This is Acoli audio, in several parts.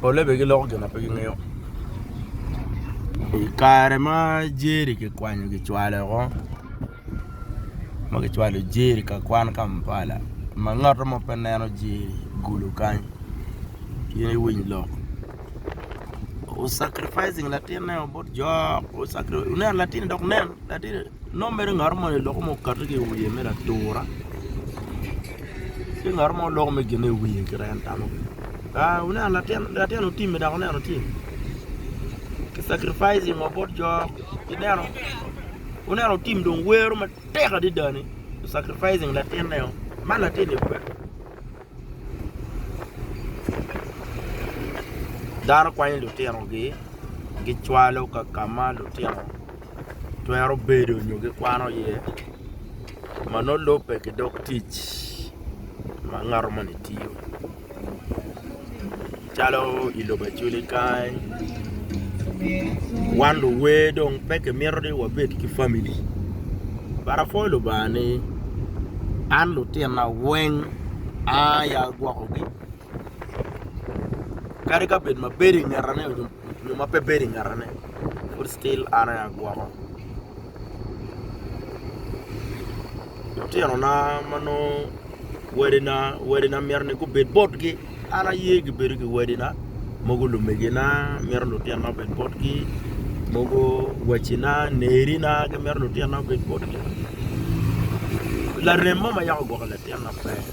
Polle bene giloko gin ma pe gingeyo. I kare ma Jerry kikwanyo kicwalo woko ma kicwalo Jerry ka kwan Kampala ma ngat mo pe neno Jerry gulu kany in iwiny lok o sacrificing latinneo bot jo ineno latinni dok nen latinni Nongo mere ngat moni loko ma okati ki i wiye mere atura ci ngat mo loko mere gine i wiye kit en tamo kwede aa wuneno latin otimme dok wuneno tye ki sacrificing wa bot jo ineno wuneno otim dong wero matek adada ni ki sacrificing latinne o man latinni kube dano kwanyo lutinogi gicwalo kakama lutino twero bedo nyo gikwano iye ma nongo lubbe ki dog tic ma ngato moni tiyo calo i lobo Acholi kany wan luwer dong pe kimito ni wabed ki famili but apwoyo Lubanga ni an lutina weng aya agwokogi. kadi ka bed ma bedo i ngete nyo ma pe bedo i ngete ne pud still an aye agwoko lutino na ma nongo wadi na myero ni gubed botgi an aye gibedo ki wadi na mogo lumege na myero lutino na obed botgi mogo wacci na neri na myero lutino na obed botgi larem mo ma yako gwoko latin maber.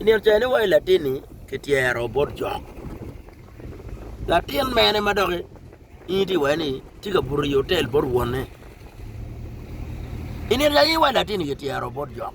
I nino cene wa i latin-ni kityero bot cok. Latin mene ma doki in itye iwaci ni tye ka buto i otel bot wonne? I nino cene in wa i latin-ni kityero bot cok.